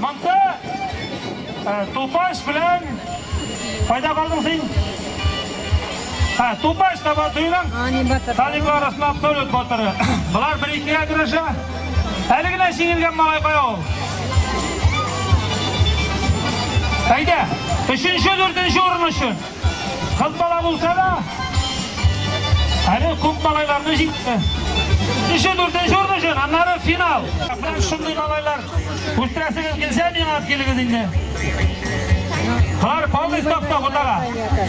Монда э, тупаш белән кайда калдың син? Ха, тупаш таба дыйлам. Талиблар арасында абсолют батыры. Болар бер икегә көрәшә. Әле генә җиңелгән малай кая ул? Әйдә, өченче, дүртенче урын өчен. Кыз бала булса да, әле күп малайларны җитте. Өче дүртенче урын өчен, аннары финал. Менә шундый малайлар үстерәсегез килсә, миңа килегез инде. Алар полный ставка булдыра.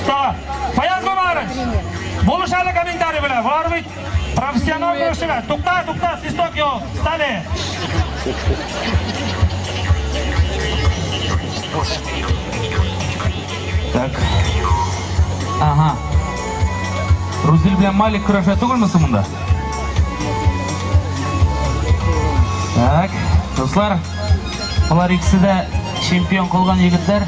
Ставка. Фаяз Буларыч. Булыш әле комментарий белән. Бар бит. Профессионал көрәшчегә. Тукта, тукта, свисток юк. Стали. Так. Ага. Рузиль белән Малик көрәшә түгелме соң монда? Так. Дуслар, алар икесе дә чемпион кылган егетләр.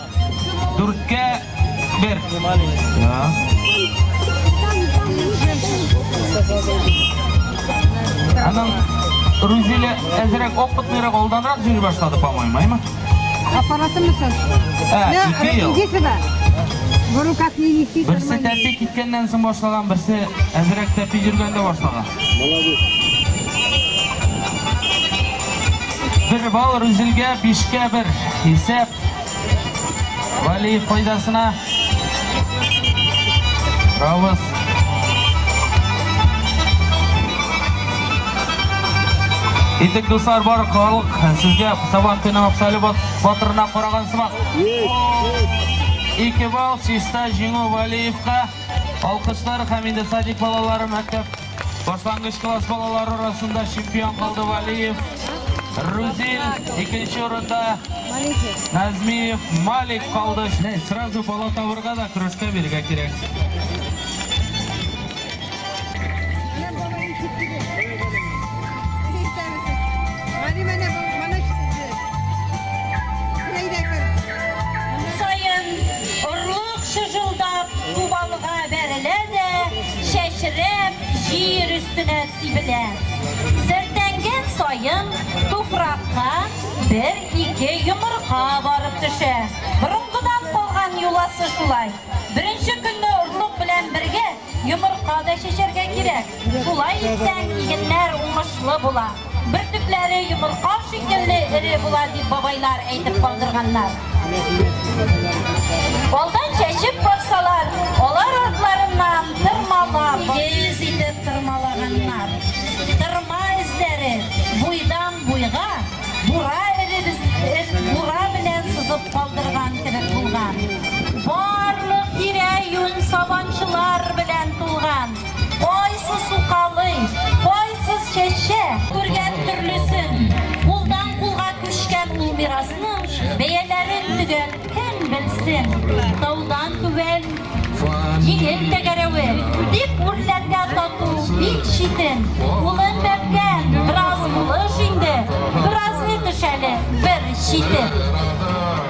Дүрткә бер. Аның Рузиле әзерәк опытныйрак алданрак җыри башлады, по-моему, әйме? Аппараты мисыз? Ә, ике ел. Берсе тәпи киткәннән соң башлаган, берсе әзерәк тәпи йөргәндә башлаган. Бер балл Рузилгә, бишкә бер. Исәп. Вәлиев файдасына. Равыз. Итек дуслар бар халык сезгә сабан көне Абсалю батырына караган сымак. Ике балл чиста җиңү Вәлиевка. Алкышлар һәм инде садик балалары мәктәп Башлангыч класс балалары арасында чемпион булды Валиев. Рузил икенче урында Назмиев Малик калды. Не, сразу бала табырга да көрәшкә бирергә кирәк. Саен орлык шыжылдап кубалга бәрелә дә чәчрәп, җир өстенә сибелә. Сөртәнгән саен туфракка бер-ике йомырка барып төшә. Борынгыдан калган йоласы шулай. Беренче көнне орлык белән бергә йомырка да чәчәргә кирәк. Шулай итсәң, игеннәр уңышлы була. Бөртекләре йомырка шикелле эре була дип бабайлар әйтеп калдырганнар. Алдан чәчеп барсалар, алар артларыннан тырмала, тигез итеп тырмалаганнар. Тырма эзләре буйдан буйга бура бура белән сызып калдырган кебек булган. Барлык тирә-юнь сабанчылар белән тулган. Кайсы сукалый, кайсы чәчә. Күргән төрлесен, кулдан кулга күчкән ул мирасның бәяләрен төгәл кем белсен. Таудан түбән җиңел тәгәрәве, дип үрләргә тату бик читен. Улым бәбкәм, бераз булыш инде, бераз ни төшәле, бер читен.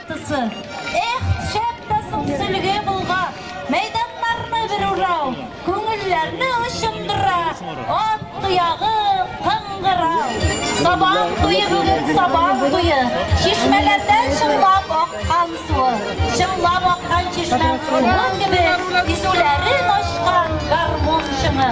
Тысы. Эх, шәп тә соң сөлге болга! Мәйданнарны бер урау, күңелләрне очындыра, ат тоягы кыңгырау. Сабан туе бүген, сабан туе, чишмәләрдән чыңлап аккан суы, чыңлап аккан чишмә суы кебек кисүләрен ачкан гармун чыңы.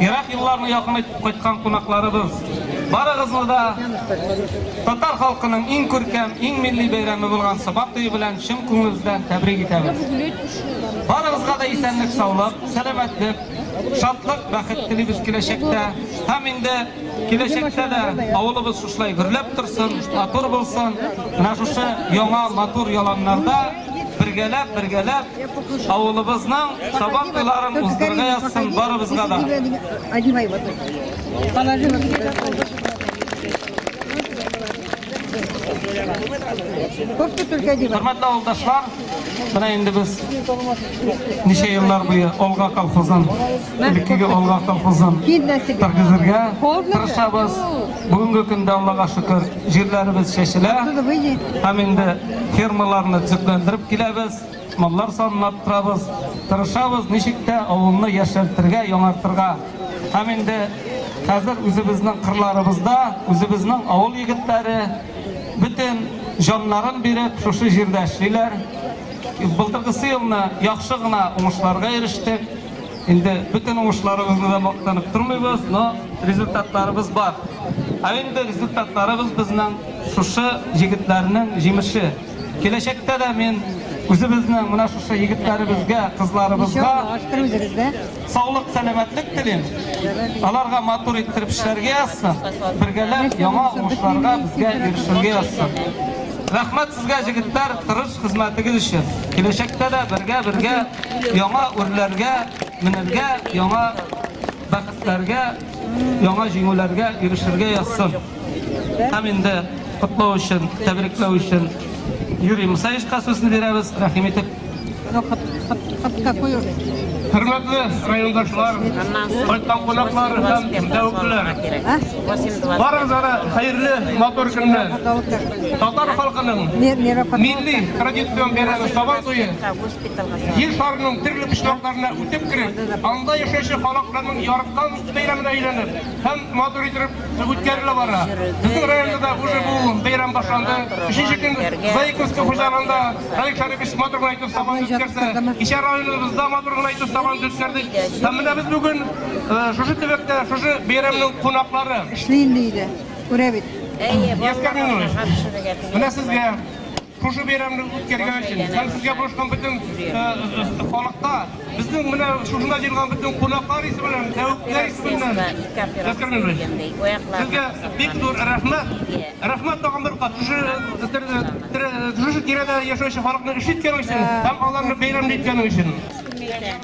Ерак юлларны якын итеп кайткан кунакларыбыз, барыгызны да татар халкының иң күркәм, иң милли бәйрәме булган Сабан туе белән чын күңелебездән тәбрик итәбез. Барыгызга да исәнлек-саулык, сәламәтлек, шатлык, бәхет телибез киләчәктә. Һәм инде киләчәктә дә авылыбыз шушылай гөрләп торсын, матур булсын. Менә шушы яңа матур яланнарда Бергәләп, бергәләп авылыбызның Сабан туйларын уздырырга язсын барыбызга да. Одевай вот это. Положи вот это. Кофта только одевай. Хөрмәтле авылдашлар, менә инде без ничә еллар буе Олга колхозын, элеккеге Олга колхозын торгызырга тырышабыз. Бүгенге көндә Аллага шөкер, җирләребез чәчелә. Һәм инде Фермаларны төзекләндереп киләбез, маллар санын арттырабыз, тырышабыз, ничек тә авылны яшәртергә, яңартырга. Һәм инде хәзер үзебезнең кырларыбызда, үзебезнең авыл егетләре бөтен җаннарын биреп шушы җирдә эшлиләр. Былтыргысы елны яхшы гына уңышларга ирештек. Инде бөтен уңышларыбызны да мактанып тормыйбыз, но результатларыбыз бар. Ә инде результатларыбыз безнең шушы егетләрнең җимеше. Киләчәктә дә мин үзебезнең менә шушы егетләребезгә, кызларыбызга саулык, сәламәтлек телим. Аларга матур иттереп эшләргә язсын, бергәләп яңа уңышларга безгә ирешергә язсын. Рәхмәт сезгә, җегетләр, тырыш Хезмәтегез өчен, киләчәктә дә бергә-бергә яңа үрләргә менергә, яңа бәхетләргә, яңа җиңүләргә ирешергә язсын. Һәм инде котлау өчен, тәбрикләү өчен Юрий Мусаевичка сүзне бирәбез. Рәхим итеп. Хөрмәтле райондашлар, кайткан кунаклар һәм тәвәккәлләр. Барыгызга да хәерле матур көннәр. Татар халкының милли традицион бәйрәме Сабан туе Ел шарының төрле почмакларына үтеп кереп, анда яшәүче халыкларның яраткан бәйрәменә әйләнеп һәм матур итеп үткәрелә бара. Безнең районда да уже бу бәйрәм башланды. Өченче көн Заиковский хуҗалыгында Халик Шәрипов матур гына итеп Сабан үткәрсә, кичә районыбызда матур гына итеп Сабан үткәрдек. Һәм менә без бүген Шушы төбәктә, шушы бәйрәмнең кунаклары. Эшли инде өйдә. Күрә бит. Әйе, Яскә Минуллович, менә сезгә шушы бәйрәмне үткәргән өчен һәм сезгә булышкан бөтен халыкка безнең менә шушында җыелган бөтен кунаклар исе белән, тәвәккәлләр исе белән Яскә Минуллович, сезгә бик зур рәхмәт. Рәхмәт тагын бер кат шушы тирәдә яшәүче халыкны өшеткән өчен һәм аларны бәйрәмле иткән өчен.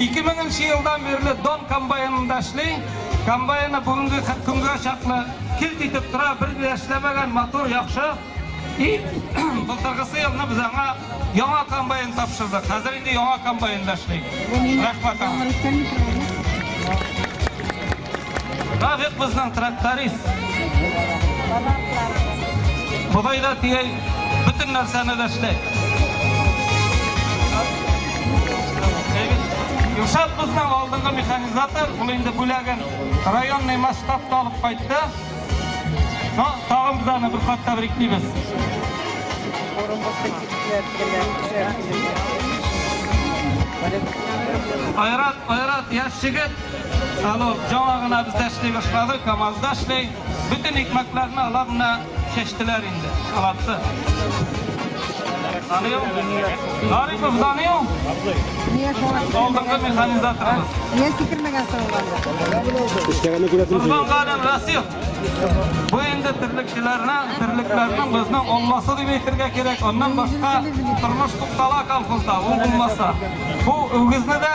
Ике меңенче елдан бирле Дон комбайнында эшли. Комбайны бүгенге көнгә чаклы килт итеп тора, бер дә эшләмәгән, матур, яхшы. И былтыргысы елны без аңа яңа комбайн тапшырдык. Хәзер инде яңа комбайнда эшли. Рәхмәт аңа. Равик безнең тракторист. Ходай да тигәй, бөтен нәрсәне дә эшләй. Юшат безнең алдынгы механизатор, ул инде бүләген районный масштабта алып кайтты. Но тагын без аны бер кат тәбриклибез. Айрат, Айрат, яшь егет. Станок җаңа гына бездә эшли башлады, КАМАЗда эшли. Бөтен икмәкләрне алар менә чәчтеләр инде, аларсы. Данил, Гарипов Данил, Нигә шуңа алдынгы механизаторыбыз. Нигә сикермәгән соңланда? Эшләгәнне күрәсең. Кузган Галин Расил. Бу инде терлекчеләрне, терлекләрнең безнең олмасы дип әйтергә кирәк. Аннан башка тормыш туктала колхозда, ул булмаса. Бу үгезне дә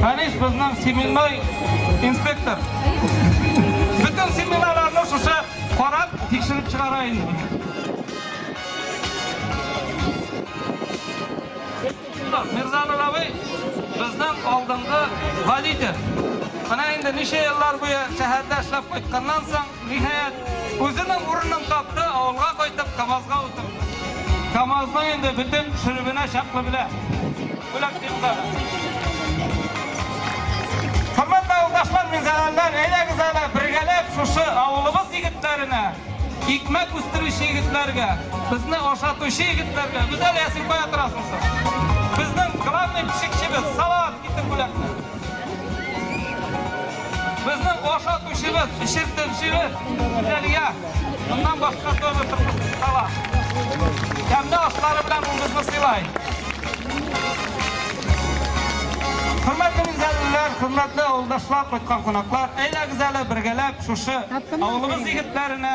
Фәнис безнең семенной инспектор. Бөтен семеноларны шушы карап, тикшереп чыгара инде. Мирзанулловый безнең алдынгы водитель. Менә инде ничә еллар буе шәһәрдә эшләп кайтканнан соң, Ниһаять, үзенең урынын тапты, авылга кайтып, КАМАЗга утырды. КАМАЗның инде бөтен шөребенә чаклы белә. Бүләк бирегез әле. Хөрмәтле авылдашлар, минзәләлеләр, әйдәгез әле бергәләп шушы авылыбыз егетләренә, икмәк үстерүче егетләргә, безне ашатучы егетләргә, Гүзәлия, син кая торасың соң? Безнең главный пешекчебез Салават, китер бүләкне. Безнең ашатучыбыз, эчертелчебез Фидалия. Моннан башка төгәл тормышсыз кала. Тәмле ашлары белән ул безне сыйлай. Хөрмәтле мизәлләр, хөрмәтле авылдашлар, кайткан кунаклар, әйдәгез әле бергәләп шушы авылыбыз егетләренә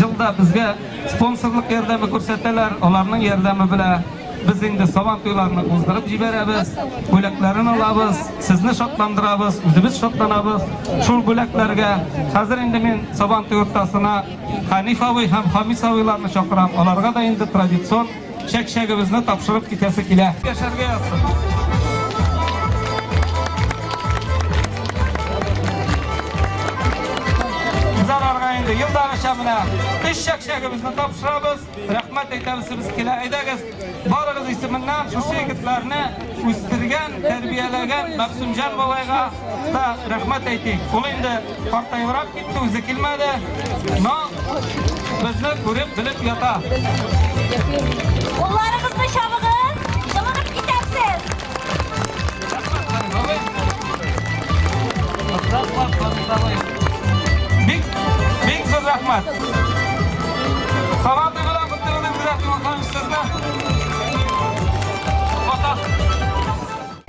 Ел да безгә спонсорлык ярдәме күрсәтәләр, аларның ярдәме белән без инде сабан туйларны уздырып җибәрәбез, бүләкләрен алабыз, сезне шатландырабыз, үзебез шатланабыз шул бүләкләргә. Хәзер инде мин сабан туй уртасына Хәниф абый һәм Хамис абыйларны чакырам, аларга да инде традицион Чәк-чәгебезне тапшырып китәсе килә. Яшәргә язсын. инде елдагыча менә өч чәкчәгебезне тапшырабыз рәхмәт әйтәбез без килә әйдәгез барыгыз исеменнән шушы егетләрне үстергән тәрбияләгән мәгъсүмҗан бабайга да рәхмәт әйтик ул инде Картаебрак китте, үзе килмәде, но безне күреп, белеп ята. Кулларыгызны чабыгыз, җылынып китәрсез. Бик, бик зур рәхмәт. Сабан туйга да куттыгыз, сезне.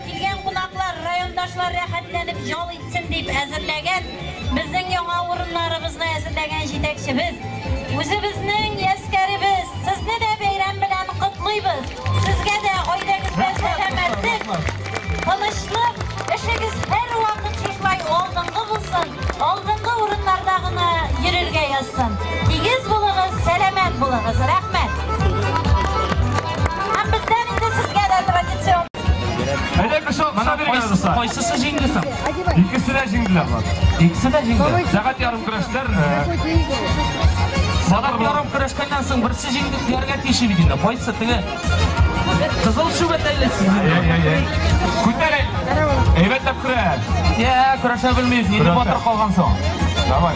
Килгән кунаклар, райондашлар рәхәтләнеп ял итсен дип әзерләгән, безнең яңа урыннарыбызны әзерләгән җитәкчебез, үзебезнең яскәребез, сезне дә бәйрәм белән котлыйбыз! Сезгә дә гаиләгездә сәламәтлек, тынычлык, эшегез һәрвакыт шушылай алдынгы булсын, алдынгы урыннарда гына йөрергә язсын! Тигез булыгыз, сәламәт булыгыз! Рәхмәт! Һәм бездән инде сезгә дә традицион. Әйдә кеше алып сабыр языса. Кайсысы җиңде соң? Икесе дә җиңделәр бар. Икесе дә җиңде. Сәгать ярым көрәшләр. Сәгать ярым көрәшкәннән соң берсе җиңде дияргә тиеш иде инде. Кайсы теге? Кызыл шүбәт әле синең. Күтәрәй. Әйбәтләп көрәш. Я, көрәшә белмибез. Ниндәй батыр калган соң? Давай.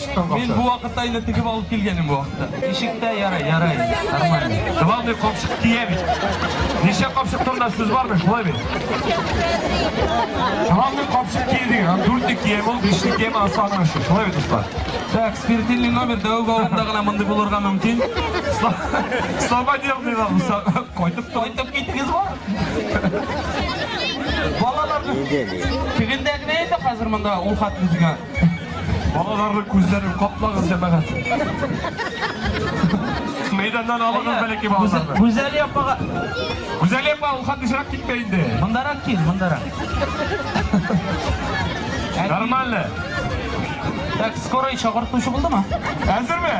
Мин бу вакытта инде тегеп алып килгәнем бу вакытта. Ничек тә ярый, ярый. Нормально. Главный капчык тия бит. Ничә капчык турында сүз бармы? Шулай бит. Главный капчык тия диген. Һәм дүртне кием ул, бишне кием асаны өчен. Шулай бит дуслар. Так, спиртильный номер дәү бавында гына мондый булырга мөмкин. Слова дел дилар. Кайтып кайтып киттегез бу. Балалар. Кигендәгенә инде хәзер монда ул хат үзгә. Балаларның күзләрен каплагыз, җәмәгать. Мәйданнан алыгыз бәләкәй балаларны. Гүзәли апага. Гүзәли апа, ул хатышрак китмә инде. Мондарак кил, мондарак. Нормально. Так, скорый чакыртучы булдымы? Әзерме?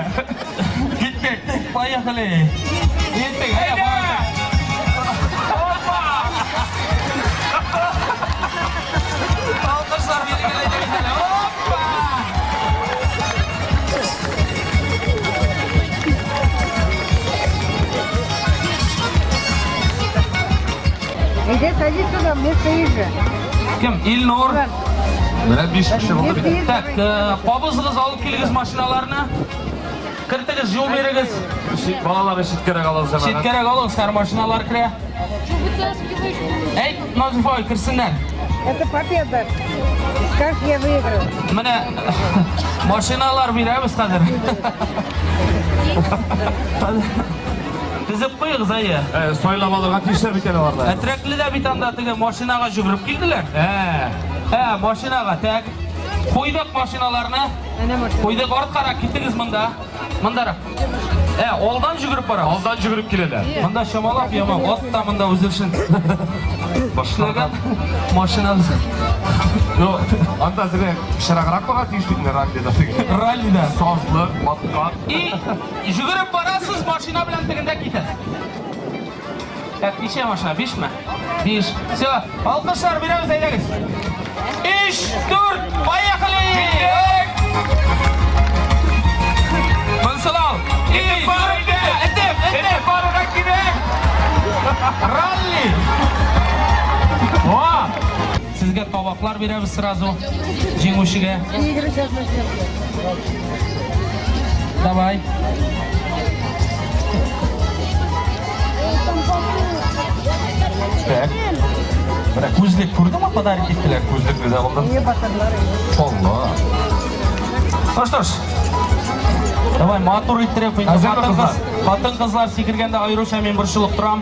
Иди, садись сюда, мне стоит же. Кем? Ильнур. Менә биш кеше булды бит. Так, э, кабызыгыз алып килегез машиналарны. Кертегез, юл бирегез. Балалар читкәрәк алыгыз әмәгать. Читкәрәк алыгыз, һәр машиналар керә. Әйт, Назифа, керсеннәр. Это победа. Как я выиграл. Менә машиналар бирәбез хәзер. Тезеп куегыз, әйе. Э, Сайлап алырга тиешләр бит әле аларда. Әтрәкле дә бит анда теге машинага жүгереп килделәр. Ә. Ә, машинага тәк. Куйдык машиналарны. Куйдык арткарак, китегез монда. Мондарак. Ә, алдан жүгереп бара. Алдан жүгереп киләләр. Монда чамалап яма, ат та монда үзе өчен. Башларга машинабыз. Ну, анда зря шараграк бара тиеш бит раллида. Раллида сазлы, матка. И, жүгереп барасыз, машина белән тегендә китәсез. Так, ничә машина? Бишме? Биш. Все. Алкышлар, берәүз әйдәгез. Өч, дүрт, поехали! Мансалау! Итеп бар иде! Итеп, итеп! Итеп баруға кирәк! Ралли! Сезгә табаклар бирәбез сразу җиңүчегә. Давай. Так. Бля, күзлек күрдеңме, подарок иттеләр күзлек дә алдым. Алла. Ну что ж, давай матур иттереп, хатын-кызлар сикергәндә аеруча мин борчылып торам.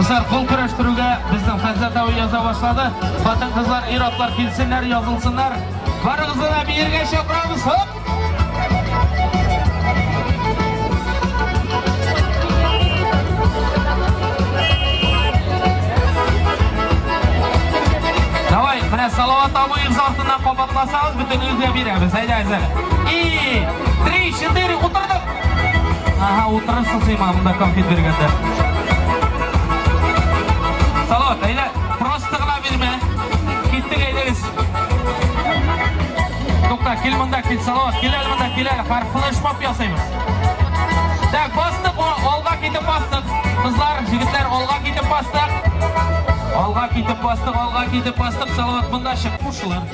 Кызлар кол көрәштерүгә безнең Хәззә тау яза башлады. Хатын кызлар, ир атлар килсеннәр, язылсыннар. Барыгызны да биергә чакырабыз. Хоп! Давай, менә Салават абыйыбыз артыннан кабатласагыз. Үзгә бирәбез, әйдә, әйдә. И, три, четыре, утырдык. Ага, утырырсың сыйма, монда конфет биргәндә. Салават, әйдә, просто гына бирмә. Киттек, әйдәгез. Тукта, кил монда, кил, Салават, кил әле монда, кил әле. Харфлы шмап ясыйбыз. Так, бастык, алга китеп бастык. Кызлар, җегетләр, алга китеп бастык. Алга китеп бастык, алга китеп бастык, Салават, монда чык. Кушылыр.